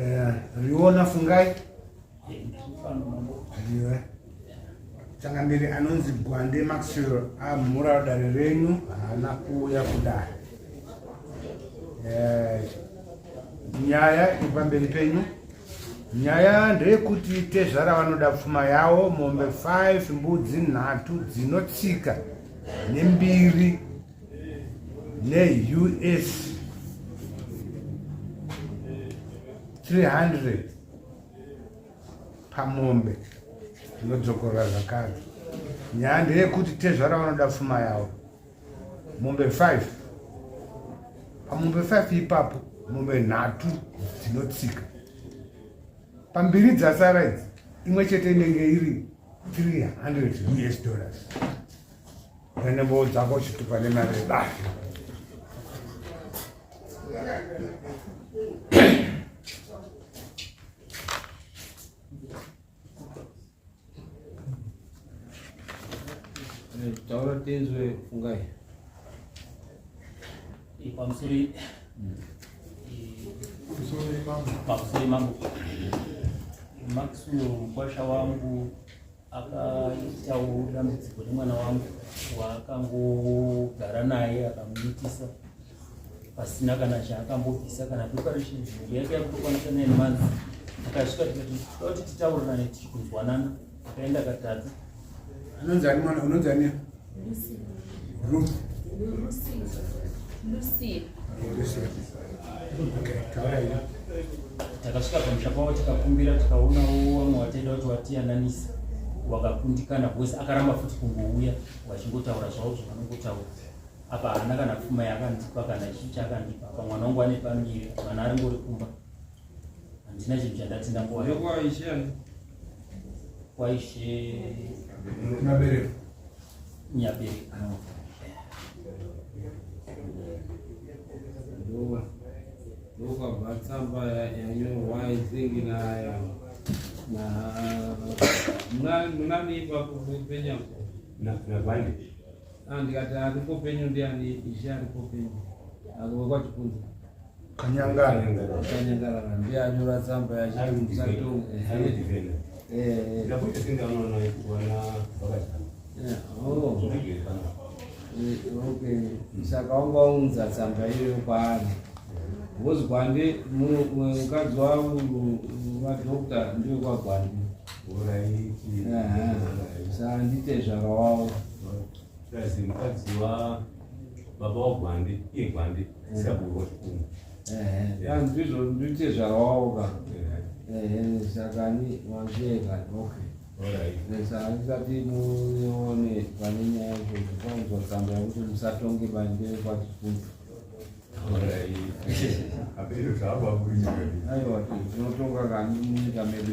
Eh, riona fungai iwe changamiri anonzi gwande maxwell amhura ah, dare renyu haana kuuya kudare eh, nyaya iri pamberi penyu nyaya ndeyekuti tezvara vanoda pfuma yawo mombe 5 mbudzi nhatu dzinotsika nembiri neus 300 pamombe tinodzokorora zvakare nyaya ndeyekuti tezvara vanoda pfuma yavo mombe 5 pamombe 5 ipapo mombe nhatu dzinotsika pambiri dzasara idzi imwe chete inenge iri 300 us dollars pane mbowo dzako chiti pane mari yebahi taura tinzwe fungai Pamusori. Pamusori mambo. Pamusori mambo. Maxwell mukwasha wangu akaitawo dambudziko nemwana wangu waakangogara naye akamuitisa pasina kana chaakambobvisa kana preparation yake yakutokwanisa nine months akasvika tikati titaurirane tichikunzwanana Kaenda katadza. Anonzi ani mwana unonzi ani? Lucy. Ruth. Lucy. Lucy. Lucy. Okay, taura ina. Takasvika pamusha pavo tikakumbira tikaona wamwe wataida kuti watiyananisa wakakundikana because akaramba futi kungouya vachingotaura zvavo zvavanongotaura apa haana kana pfuma yakandipa kana chii chakandipa apa mwana wangu ane pamiri mwana aringori kumba handina chinhu chandati ndambowa Kwaishe Nyabereka. Nyabereka. Ndo- ndokabva tsamba ya- yanyorwa izingi nayo na muna- munanipa kupenya Na- na Vande. Ah, ndikati aripo penyu ndiani ishe aripo penyu akowe kwachipunza Kanyangara. Kanyangara ndiye anyora tsamba yacho ari musato. Eh. Ndakuti singa unoona kuona vakati. Eh. Oh. Okay. Saka wanga waunza tsamba iyo kwaani? Wozi gwande mukadzi wangu vadokta ndiyo kwagwande. Uraiti. Sandite zvakawawo. Kazi mukadzi wa baba wagwandi iye gwandi mm. saburu wachikumu ndizvo ndite zvarawawo ka sakani vanzveka okay ndisati muone pane nyaya izvozvo kwanzwa tsamba yakuti musatonge bande kwachikundu aiwa tinotonga kani munyika medu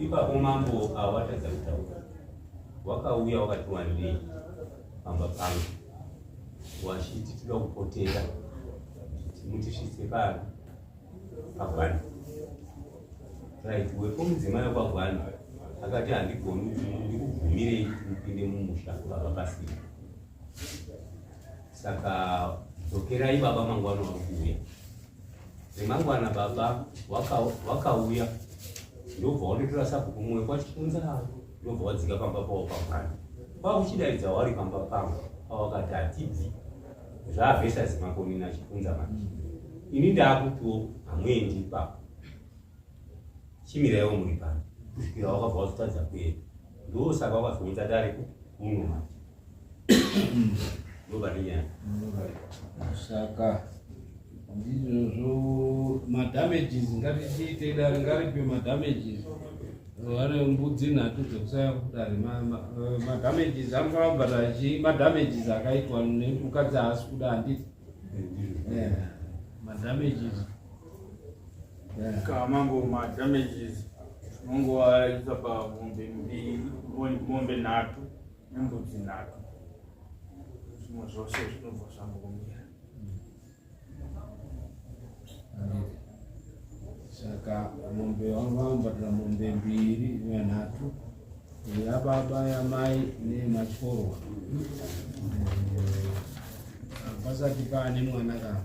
ipapo mambo awatadza kutaura wakauya wakati wandei pamba pangu wachiti tida kupotera mutisvitse pano pagwana right wepo mudzimai wepagwana akati handigoni ndikubvumirei upinde mumusha baba pasina saka dzokerai baba mangwana wakuuya remangwana baba wakauya ndobva wanotora sabhuku mumwe kwachikunza ndobva wadzika pamba pavo pamwana kwakuchidaidza wari pamba pangu pawakati hatibvi zvaavhesa zimakonini achikunza manje ini ndaakutiwo hamwendi ipapo chimiraiwo muri pano kusvikira wakabva wazotadza kuenda ndosaka wakazounza dare kuno manje saka ndizvozvo madamages ngatichiite dare ngaripe madamages vane mbudzi nhatu dzekusaya kudare eh, madamages anofana kubhadhara chii madamages akaitwa nemukadzi haasi kuda handiti eh, madamages kamango madamages tinongovaisa pamombe mbiri mombe nhatu Nyambudzi nhatu zvimwe zvose zvinobva zvambomira. Saka mombe vangu vamubhadhara mombe mbiri yanhatu yababa yamai neyematyoro pasati paane mwana kava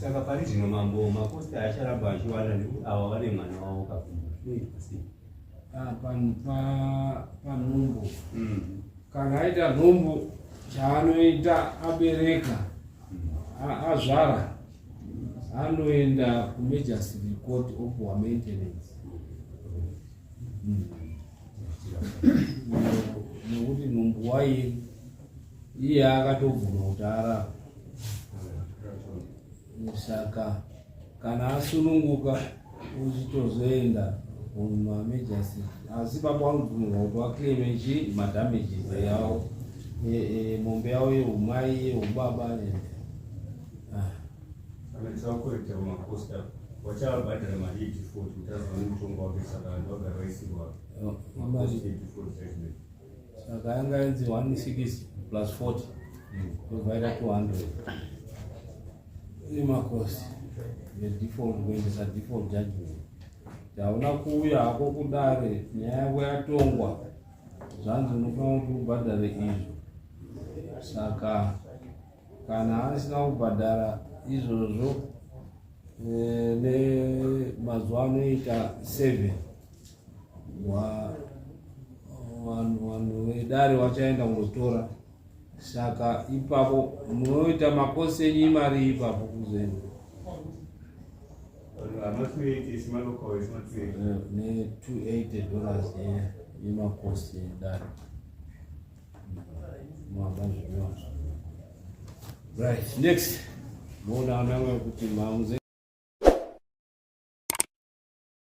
saka pari zvino mambo makosta acharamba achiwana nekuti ava vane mwana wavo kakumba zvinoitwa sei ah, panhumbo mm. kana aita nhumbu chaanoita abereka mm. azvara anoenda kumajestry court opuwa maintenance mm. nekuti nhumbu waini iye akatobvuma kuti arara saka kana asununguka uchitozoenda kumamejasi asi baba vanobvumirwa kuti vakleme chi madamages yavo e, e, mombe yavo yeumai yeubaba wachavabhadhara mari yedifoti kuti azoone mutongo wake saka vanhu vagara vaisirwa saka yanga yanzi 16 plus 40 tovaita 200 ine makosi nedefault kuendesa default judgment taona kuuya hako kudare nyaya yako yatongwa zvanzi unofanira kuti ubhadhare izvo saka kana asina kubhadhara izvozvo eh, nemazuva anoita seven vanhu vedare vachaenda kunotora saka ipapo munoita makosi enyu imari ipapo kuzenu ne280 dollars yemakosi edare right next moona ananga kuti mamuze